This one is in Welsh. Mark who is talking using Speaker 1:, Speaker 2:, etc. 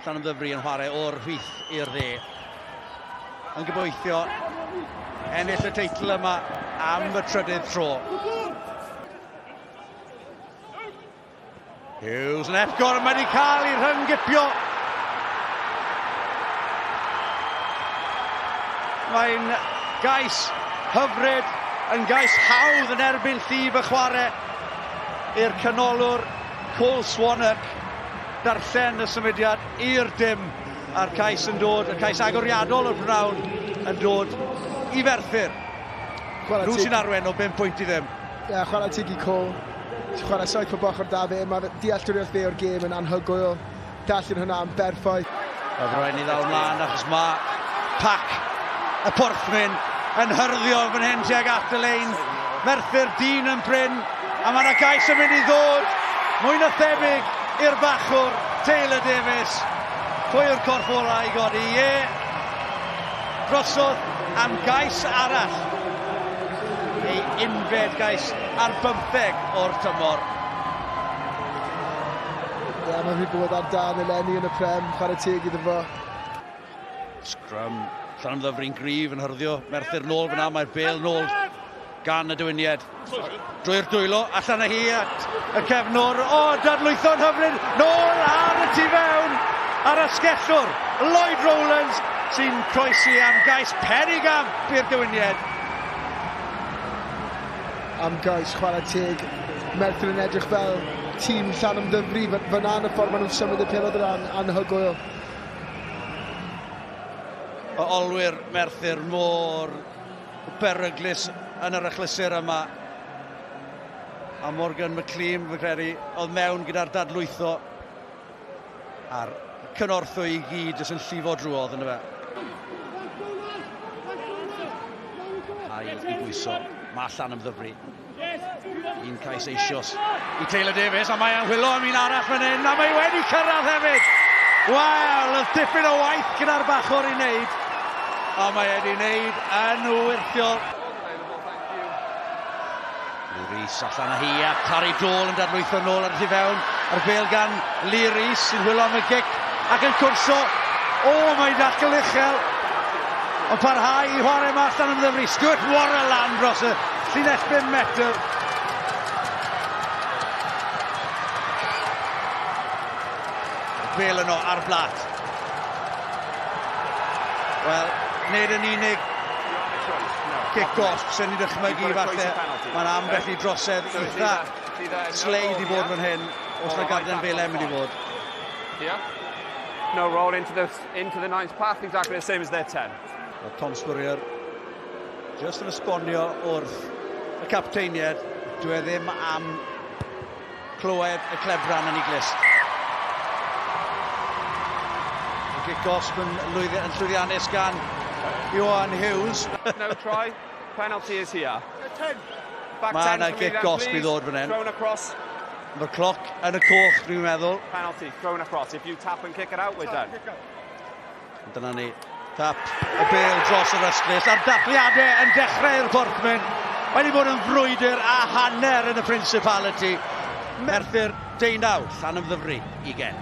Speaker 1: Llanymddyfri yn chwarae o'r rhith i'r dde. Yn gobeithio ennill y teitl yma am y trydydd tro. Hughes yn epgor, mae wedi cael ei rhyngipio. Mae'n gais hyfryd, yn gais hawdd yn erbyn llif y chwarae i'r canolwr Cole Swanwick. Darllen y symudiad i'r dim a'r cais yn dod, y cais agoriadol o'r prynhawn yn dod i Ferthyr. Nhw sy'n arwen o 5 pwynt i ddim. Ie, yeah, chwarae teg i
Speaker 2: Cole. Chwarae saith o bochr da fe. Mae'r dealltwriaeth fe o'r gêm yn anhygoel. Darllen hwnna am berffaith. Mae rhaid ni ddal
Speaker 1: mlaen achos mae pac y porthmyn yn hyrddio fan hyn tuag at y lein. Merthyr dyn yn bryn a mae yna gais yn mynd i ddod mwy na thebyg i'r bachwr Taylor Davies. Pwy yw'r corff ola i godi? Ie, drosodd am gais arall. Ei unfed gais ar bymtheg o'r tymor.
Speaker 2: Ie ma' rhy bod ar dân eleni yn y Prem, chware teg iddo fo.
Speaker 1: Scrum Llanddyfri'n gryf yn hyrddio Merthyr nôl fyna, mae'r bel nôl gan y dywyniad. Drwy'r dwylo, allan â hi at y cefnwr. O, oh, dadlwytho'n hyfryd, nôl ar y tu fewn ar asgellwr. Lloyd Rowlands sy'n croesi am gais perig am i'r dywyniad.
Speaker 2: am gais chwarae teg. Merthyr yn edrych fel tîm Llanymddyfri fy- fyna yn y ffordd maen nhw'n symud y pelod yn anhygoel.
Speaker 1: O olwyr Merthyr mor beryglus yn yr achlysur yma. A Morgan McLean, fy credu, oedd mewn gyda'r dadlwytho. A'r cynorthwy i gyd jyst yn llifo drwodd yn y fe. A'i i bwyso, mae allan ymddyfru. Un cais eisios i Taylor Davies, a mae e'n hwylo am un arall fan hyn, a mae wedi cyrraedd hefyd. Wel, y dipyn o waith gyda'r bachwr i wneud, a mae wedi wneud yn wyrthiol. Lee Rees allan â hi a Tari Dôl yn dadlwytho nôl ar y tu fewn a'r bêl gan Lee Rees sy'n hwylo am y gic ac yn cwrso. O, oh, mae'n dacl uchel. Yn parhau i chwarae yma allan yn ddyfru. Stuart Warren lan dros y llinell 5 metr. Bêl yno ar blat. Wel, nid yn unig kick-off, sy'n ni'n dychmygu falle, mae'n ambell i drosedd eitha sleid i fod fan hyn, os na garden bele mynd i fod. Yeah. No
Speaker 3: roll into the, into the ninth path, exactly the same as their 10. Well, Tom Spurrier,
Speaker 1: just yn esbonio wrth y capteiniad, dwi e ddim am Clywed y clebran yn ei glust. Y gic gosb yn, lwyddi, yn llwyddiannus gan Ioan Hughes. no try.
Speaker 3: Penalty is here.
Speaker 1: Mae yna gic gosb i ddod fan hyn. Thrown across.
Speaker 3: Mae'r cloc
Speaker 1: yn y coch, dwi'n meddwl. Penalty, thrown across.
Speaker 3: If you tap and kick it out, we're done.
Speaker 1: Dyna ni. Tap y bel dros yr ystlys a'r dathliadau yn dechrau'r Borthmen. Mae wedi bod yn frwydr a hanner yn y Principality. Merthyr deunaw, llan ymddyfru i gen.